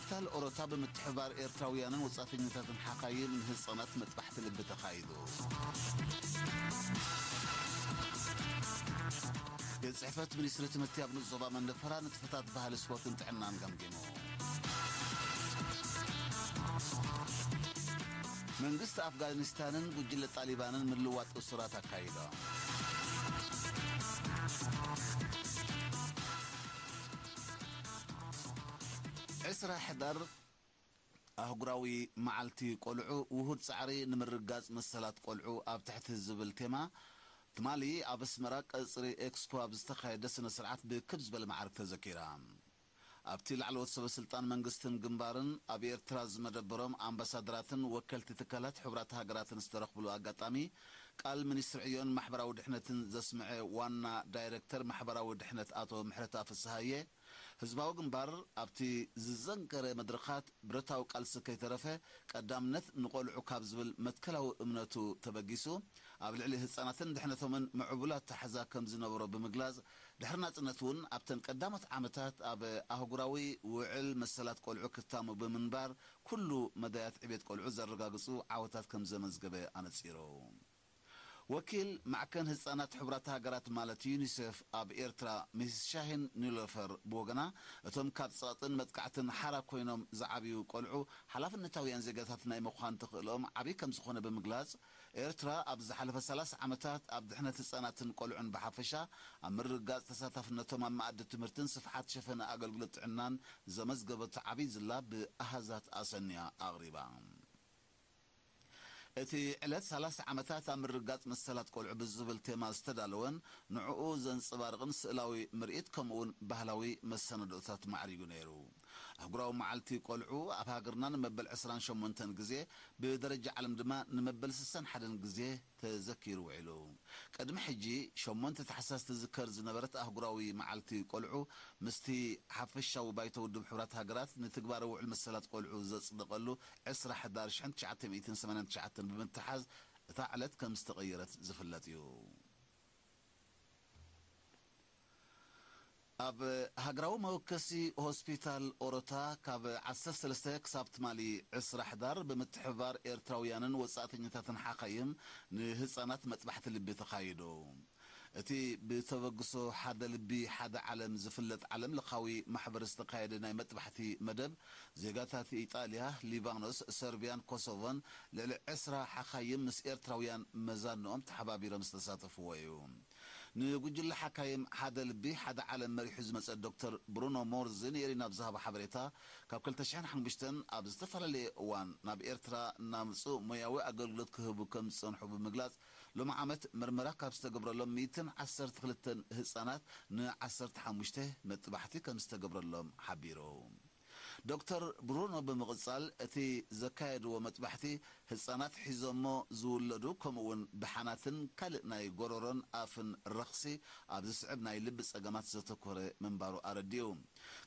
ካፒታል ኦሮታ ብምትሕብባር ኤርትራውያንን ወጻእተኛታትን ሓካይም ንህጻናት መጥባሕቲ ልቢ ተኻይዱ። ቤት ጽሕፈት ሚኒስትሪ ትምህርቲ ኣብ ንኡስ ዞባ መንደፈራ ንጥፈታት ባህሊ ስፖርትን ጥዕናን ገምጊሙ። መንግስቲ ኣፍጋኒስታንን ጉጅለ ጣሊባንን ምልዋጥ እሱራት ኣካይዶም። ዕስራ ሕዳር ኣህጉራዊ መዓልቲ ቆልዑ ውሁድ ጻዕሪ ንምርግጋጽ መሰላት ቆልዑ ኣብ ትሕቲ ዝብል ቴማ ትማሊ ኣብ ኣስመራ ቀጽሪ ኤክስኮ ኣብ ዝተኻየደ ስነ ስርዓት ብክብ ዝበለ መዓርግ ተዘኪራ። ኣብቲ ላዕለዎት ሰበ ስልጣን መንግስትን ግንባርን ኣብ ኤርትራ ዝመደበሮም ኣምባሳደራትን ወከልቲ ትካላት ሕቡራት ሃገራትን ዝተረኽብሉ ኣጋጣሚ ቃል ሚኒስትሪ ዕዮን ማሕበራዊ ድሕነትን ዘስምዐ ዋና ዳይረክተር ማሕበራዊ ድሕነት ኣቶ ምሕረታ ፍስሃየ፣ ህዝባዊ ግንባር ኣብቲ ዝዘንከረ መድረኻት ብረታዊ ቃልሲ ከይተረፈ ቀዳምነት ንቖልዑ ካብ ዝብል መትከላዊ እምነቱ ተበጊሱ ኣብ ልዕሊ ህጻናትን ድሕነቶምን ምዕቡል ኣተሓሕዛ ከምዝነበሮ ብምግላጽ ድሕሪ ናጽነት እውን ኣብተን ቀዳሞት ዓመታት ኣብ ኣህጉራዊ ውዕል መሰላት ቆልዑ ክታሙ ብምንባር ኩሉ መዳያት ዕቤት ቆልዑ ዘረጋግጹ ዓወታት ከምዘመዝገበ ኣነጺሩ። ወኪል ማዕከን ህጻናት ሕቡራት ሃገራት ማለት ዩኒሴፍ ኣብ ኤርትራ ሚስስ ሻሂን ኒሎፈር ብወገና፣ እቶም ካብ ጸቕጥን መጥቃዕትን ሓራ ኮይኖም ዝዓብዩ ቆልዑ ሓላፍነታውያን ዜጋታት ናይ ምዃን ተኽእሎኦም ዓቢ ከምዝኾነ ብምግላጽ፣ ኤርትራ ኣብዚ ዝሓለፈ ሰላሳ ዓመታት ኣብ ድሕነት ህጻናትን ቆልዑን ብሓፈሻ፣ ኣብ ምርግጋጽ ተሳታፍነቶም ኣብ መኣዲ ትምህርትን ስፍሓት ሸፈነ ኣገልግሎት ጥዕናን ዘመዝገበቶ ዓብይ ዝላ ብኣሃዛት ኣሰንያ ኣቕሪባ። እቲ ዕለት ሰላሳ ዓመታት ኣብ ምርግጋጽ መሰላት ቆልዑ ብዝብል ቴማ ዝተዳለወን ንዕኡ ዘንጸባርቕን ስእላዊ ምርኢት ከምኡ'ውን ባህላዊ መሰናድኦታት ማዕሪጉ ነይሩ። ኣህጉራዊ መዓልቲ ቆልዑ ኣብ ሃገርና ንመበል ዕስራን ሸሞንተን ግዜ ብደረጃ ዓለም ድማ ንመበል ስሳን ሓደን ግዜ ተዘኪሩ ውዒሉ። ቅድሚ ሕጂ ሸሞንተ ታሕሳስ ትዝከር ዝነበረት ኣህጉራዊ መዓልቲ ቆልዑ ምስቲ ሓፈሻዊ ባይቶ ውድብ ሕቡራት ሃገራት ንትግባረ ውዕል መሰላት ቆልዑ ዘጽደቐሉ ዕስራ ሕዳር ሽሕን ትሽዓተ ሚእትን ሰማንያን ትሽዓተን ብምትሓዝ እታ ዕለት ከምዝተቐየረት ዝፍለጥ'ዩ። ኣብ ሃገራዊ መወከሲ ሆስፒታል ኦሮታ ካብ ዓሰርተ ሰለስተ ክሳብ ትማሊ ዕስራ ሕዳር ብምትሕብባር ኤርትራውያንን ወጻእተኛታትን ሓካይም ንህጻናት መጥባሕቲ ልቢ ተኻይዱ። እቲ ብተበግሶ ሓደ ልቢ ሓደ ዓለም ዝፍለጥ ዓለም ለኻዊ ማሕበር ዝተካየደ ናይ መጥባሕቲ መደብ ዜጋታት ኢጣልያ፣ ሊባኖስ፣ ሰርብያን ኮሶቮን ልዕሊ ዕስራ ሓካይም ምስ ኤርትራውያን መዛንኦም ተሓባቢሮም ዝተሳተፍዎ እዩ። ንጉጅለ ሓካይም ሓደ ልቢ ሓደ ዓለም መሪሑ ዝመጸ ዶክተር ብሩኖ ሞርዚ ንኤሪና ኣብ ዝሃቦ ሓበሬታ፣ ካብ ክልተ ሽሕን ሓሙሽተን ኣብ ዝተፈላለየ እዋን ናብ ኤርትራ እናምጽኡ ሞያዊ ኣገልግሎት ክህቡ ከም ዝጸንሑ ብምግላጽ፣ ሎሚ ዓመት መርመራ ካብ ዝተገብረሎም ሚእትን ዓሰርተ ክልተን ህጻናት ን ዓሰርተ ሓሙሽተ መጥባሕቲ ከም ዝተገብረሎም ሓቢሩ። ዶክተር ብሩኖ ብምቕጻል እቲ ዘካየድዎ መጥባሕቲ ህጻናት ሒዞሞ ዝውለዱ ከምኡ'ውን ብሓናትን ካልእ ናይ ጎሮሮን ኣፍን ረኽሲ ኣብ ዝስዕብ ናይ ልቢ ጸገማት ዘተኮረ ምንባሩ ኣረዲኡ።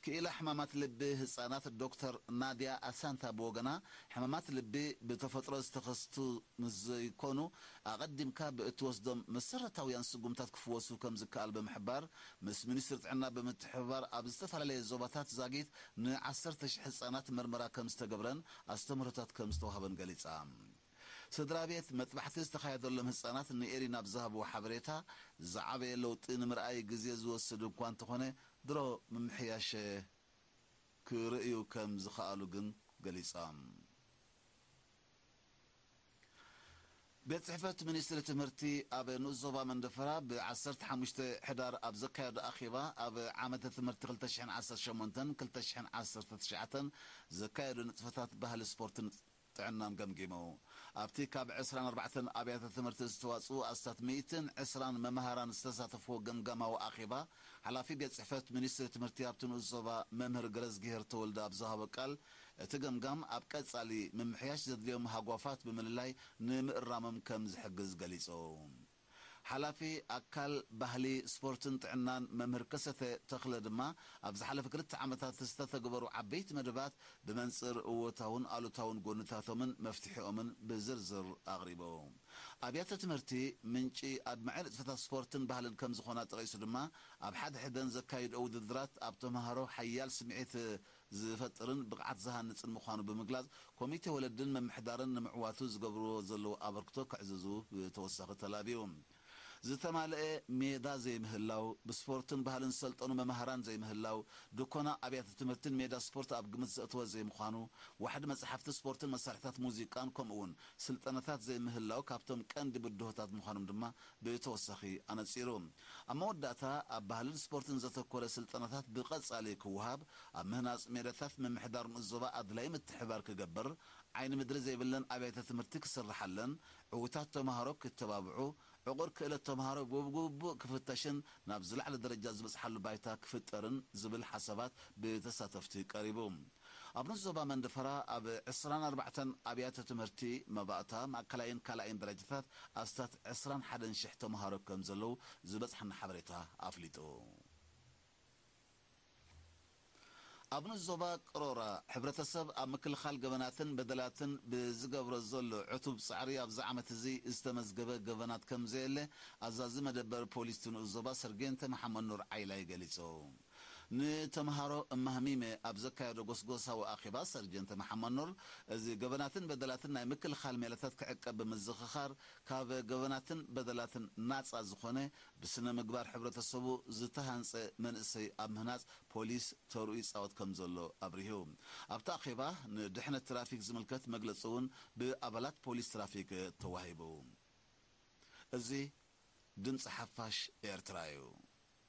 ክኢላ ሕማማት ልቢ ህጻናት ዶክተር ናድያ ኣሳንታ ብወገና ሕማማት ልቢ ብተፈጥሮ ዝተኸስቱ ምስ ዘይኮኑ ኣቐዲምካ ብእትወስዶም መሰረታውያን ስጉምታት ክፍወሱ ከም ዝከኣል ብምሕባር ምስ ሚኒስትሪ ጥዕና ብምትሕብባር ኣብ ዝተፈላለየ ዞባታት ዛጊት ን ዓሰርተ ሽሕ ህጻናት መርመራ ከምዝተገብረን ኣስተምህሮታት ከምዝተዋህበን ገሊጻ። ስድራቤት መጥባሕቲ ዝተኻየደሎም ህጻናት ንኤሪና ኣብ ዝሃብዎ ሓበሬታ፣ ዝዓበየ ለውጢ ንምርኣይ ግዜ ዝወስድ እኳ እንተኾነ ድሮ ምምሕያሸ ክርእዩ ከምዝኸኣሉ ግን ገሊጾም። ቤት ፅሕፈት ሚኒስትሪ ትምህርቲ ኣብ ንኡስ ዞባ መንደፈራ ብ ዓሰርተ ሓሙሽተ ሕዳር ኣብ ዘካየዶ ኣኼባ ኣብ ዓመተ ትምህርቲ ክልተ ሽሕን ዓሰርተ ሸሞንተን ክልተ ሽሕን ዓሰርተ ትሽዓተን ዘካየዱ ንጥፈታት ባህሊ ስፖርትን ጥዕናን ገምጊሙ። ኣብቲ ካብ ዕስራን ኣርባዕተን ኣብያተ ትምህርቲ ዝተዋፅኡ ኣስታት ሚእትን ዕስራን መምሃራን ዝተሳተፍዎ ገምጋማዊ ኣኼባ ሓላፊ ቤት ፅሕፈት ሚኒስትሪ ትምህርቲ ኣብቲ ንኡስ ዞባ መምህር ገረዝጊሄር ተወልደ ኣብ ዝሃቦ ቃል እቲ ገምጋም ኣብ ቀፃሊ ምምሕያሽ ዘድልዮም ሃጓፋት ብምልላይ ንምእራሞም ከም ዝሕግዝ ገሊፁ። ሓላፊ ኣካል፣ ባህሊ፣ ስፖርትን ጥዕናን መምህር ከሰተ ተኽለ ድማ ኣብ ዝሓለፈ ክልተ ዓመታት ዝተተግበሩ ዓበይቲ መደባት ብመንፅር እወታውን ኣሉታውን ጎንታቶምን መፍትሒኦምን ብዝርዝር ኣቕሪቡ። ኣብያተ ትምህርቲ ምንጪ ኣድማዒ ንጥፈታት ስፖርትን ባህልን ከም ዝኾና ጠቒሱ ድማ ኣብ ሓድሕደን ዘካይድኦ ውድድራት ኣብ ተምሃሮ ሓያል ስምዒት ዝፈጥርን ብቕዓት ዝሃንጽን ምዃኑ ብምግላጽ፣ ኮሚቴ ወለድን ምምሕዳርን ንምዕዋቱ ዝገብርዎ ዘለዉ ኣበርክቶ ከዕዝዙ ብተወሳኺ ተላብዩ። ዝተማልኤ ሜዳ ዘይምህላው፣ ብስፖርትን ባህልን ዝሰልጠኑ መማህራን ዘይምህላው፣ ድኮና ኣብያተ ትምህርቲን ሜዳ ስፖርት ኣብ ግምት ዘእተወ ዘይምዃኑ፣ ዋሕዲ መጻሕፍቲ ስፖርትን መሳርሒታት ሙዚቃን ከምኡ'ውን ስልጠናታት ዘይምህላው ካብቶም ቀንዲ ብድሆታት ምዃኖም ድማ ብተወሳኺ ኣነጺሩ። ኣብ መወዳእታ፣ ኣብ ባህልን ስፖርትን ዘተኮረ ስልጠናታት ብቐጻሊ ክወሃብ፣ ኣብ ምህናጽ ሜዳታት ምምሕዳር ንኡስ ዞባ ኣድላዪ ምትሕብባር ክገብር፣ ዓይኒ ምድሪ ዘይብለን ኣብያተ ትምህርቲ ክስርሓለን፣ ዕዉታት ተመሃሮ ክተባብዑ፣ ዕቑር ክእለት ተመሃሮ ብግቡእ ክፍተሽን ናብ ዝለዓለ ደረጃ ዝበጽሓሉ ባይታ ክፍጠርን ዝብል ሓሳባት ብተሳተፍቲ ቀሪቡ። ኣብ ን ዞባ መንደፈራ ኣብ ዕስራን ኣርባዕተን ኣብያተ ትምህርቲ መባእታ ማእከላይን ካልኣይን ደረጃታት ኣስታት ዕስራን ሓደን ሽሕ ተምሃሮ ከም ዘለዉ ዝበጽሓና ሓበሬታ ኣፍሊጡ። ኣብ ን ዞባ ቅሮራ ሕብረተሰብ ኣብ ምክልኻል ገበናትን በደላትን ብዝገብሮ ዘሎ ዕቱብ ጻዕሪ ኣብዚ ዓመት እዚ ዝተመዝገበ ገበናት ከም ዘየለ ኣዛዚ መደበር ፖሊስ እቲ ንኡስ ዞባ ሰርጌንተ መሓመድኑር ዓይላይ ገሊጹ። ንተምሃሮ እማህሚመ ኣብ ዘካየዶ ጎስጎሳዊ ኣኼባ፣ ሰርጀንት መሓመድኑር፣ እዚ ገበናትን በደላትን ናይ ምክልኻል ሜላታት ክዕቀብ ብምዝኽኻር፣ ካብ ገበናትን በደላትን ናጻ ዝኾነ፣ ብስነ-ምግባር ሕብረተሰቡ ዝተሃንጸ መንእሰይ ኣብ ምህናጽ ፖሊስ ተርኡ ይጻወት ከምዘሎ ኣብሪሁ። ኣብቲ ኣኼባ፣ ንድሕነት ትራፊክ ዝምልከት መግለጺ እውን ብኣባላት ፖሊስ ትራፊክ ተዋሂቡ። እዚ ድምጺ ሓፋሽ ኤርትራ እዩ።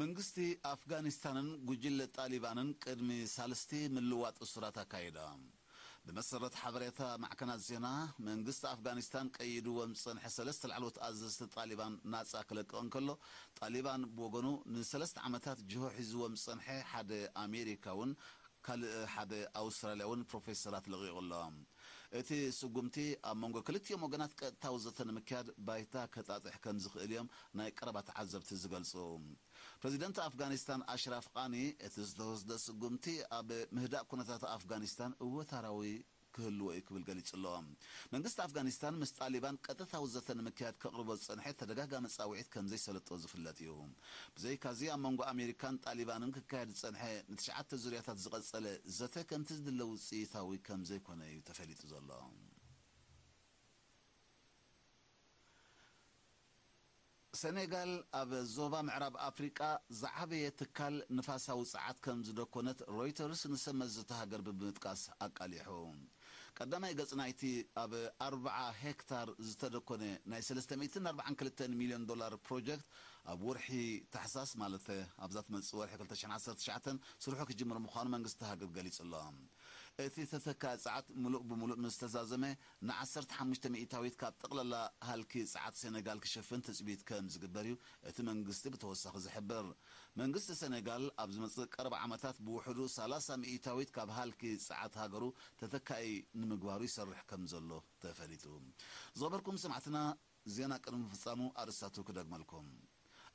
መንግስቲ ኣፍጋኒስታንን ጉጅለ ጣሊባንን ቅድሚ ሳልስቲ ምልዋጥ እሱራት ኣካይዶም። ብመሰረት ሓበሬታ ማዕከናት ዜና፣ መንግስቲ ኣፍጋኒስታን ቀይድዎም ዝጸንሐ ሰለስተ ላዕለዎት ኣዘዝቲ ጣሊባን ናጻ ክለቅቕ እንከሎ፣ ጣሊባን ብወገኑ ንሰለስተ ዓመታት ጅሆ ሒዝዎም ዝጸንሐ ሓደ ኣሜሪካውን ካልእ ሓደ ኣውስትራልያውን ፕሮፌሰራት ለቒቑ ኣሎ። እቲ ስጉምቲ ኣብ መንጎ ክልቲኦም ወገናት ቀጥታዊ ዘተ ንምክያድ ባይታ ከጣጥሕ ከምዝኽእል'ዮም ናይ ቀረባ ተዓዘብቲ ዝገልጹ። ፕረዚደንት ኣፍጋኒስታን ኣሽራፍ ቓኒ፣ እቲ ዝተወስደ ስጉምቲ ኣብ ምህዳእ ኩነታት ኣፍጋኒስታን እወታራዊ ክህልዎ'ዩ ክብል ገሊጹ'ሎ። መንግስቲ ኣፍጋኒስታን ምስ ጣሊባን ቀጥታዊ ዘተ ንምክያድ ከቕርቦ ዝጸንሐ ተደጋጋሚ ጻውዒት ከምዘይሰለጦ ዝፍለጥ'ዩ። ብዘይካ'ዚ ኣብ መንጎ ኣሜሪካን ጣሊባንን ክካየድ ዝጸንሐ ንትሽዓተ ዙርያታት ዝቐጸለ ዘተ ከምቲ ዝድለ ውጽኢታዊ ከምዘይኮነ'ዩ ተፈሊጡ ዘሎ። ሰኔጋል ኣብ ዞባ ምዕራብ ኣፍሪቃ ዝዓበየ ትካል ንፋሳዊ ጸዓት ከም ዝደኰነት ሮይተርስ ንሰብመዚ'ታ ሃገር ብምጥቃስ ኣቃሊሑ። ቀዳማይ ገጽ ናይቲ ኣብ ኣርብዓ ሄክታር ዝተደኰነ ናይ ሰለስተ ሚእትን ኣርብዓን ክልተን ሚልዮን ዶላር ፕሮጀክት ኣብ ወርሒ ታሕሳስ ማለት ኣብዛ ትመጽእ ወርሒ ክልተ ሽሕን ዓሰርተ ትሽዓተን ስርሑ ክጅምር ምዃኑ መንግስቲ'ታ ሃገር ገሊጹ'ሎ። እቲ ተተካኢ ጸዓት ምሉእ ብምሉእ ምስ ተዛዘመ ንዓሰርተ ሓሙሽተ ሚእታዊት ካብ ጠቕላላ ሃልኪ ጸዓት ሰነጋል ክሽፍን ትጽቢት ከም ዝግበር'ዩ እቲ መንግስቲ ብተወሳኺ ዝሕብር። መንግስቲ ሰነጋል ኣብ ዝመጽእ ቀረባ ዓመታት ብውሕዱ ሰላሳ ሚእታዊት ካብ ሃልኪ ጸዓት ሃገሩ ተተካኢ ንምግባሩ ይሰርሕ ከም ዘሎ ተፈሊጡ። ዝኸበርኩም ሰማዕትና! ዜና ቅድሚ ምፍጻሙ ኣርእስታቱ ክደግመልኩም።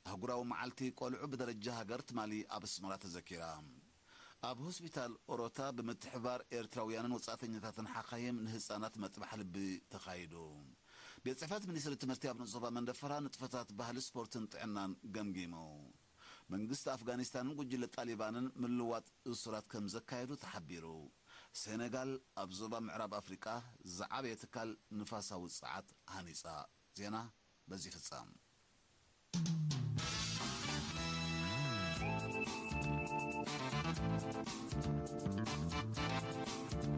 ኣህጉራዊ መዓልቲ ቆልዑ ብደረጃ ሃገር ትማሊ ኣብ ኣስመራ ተዘኪራ። ኣብ ሆስፒታል ኦሮታ ብምትሕብባር ኤርትራውያንን ወጻእተኛታትን ሓካይም ንህጻናት መጥባሕ ልቢ ተኻይዱ። ቤት ጽሕፈት ሚኒስትሪ ትምህርቲ ኣብ ንኡስ ዞባ መንደፈራ ንጥፈታት ባህሊ ስፖርትን ጥዕናን ገምጊሙ። መንግስቲ ኣፍጋኒስታንን ጉጅለ ጣሊባንን ምልዋጥ እሱራት ከም ዘካየዱ ተሓቢሩ። ሴነጋል ኣብ ዞባ ምዕራብ ኣፍሪቃ ዝዓበየ ትካል ንፋሳዊ ጸዓት ሃኒጻ። ዜና በዚ ይፍጸም።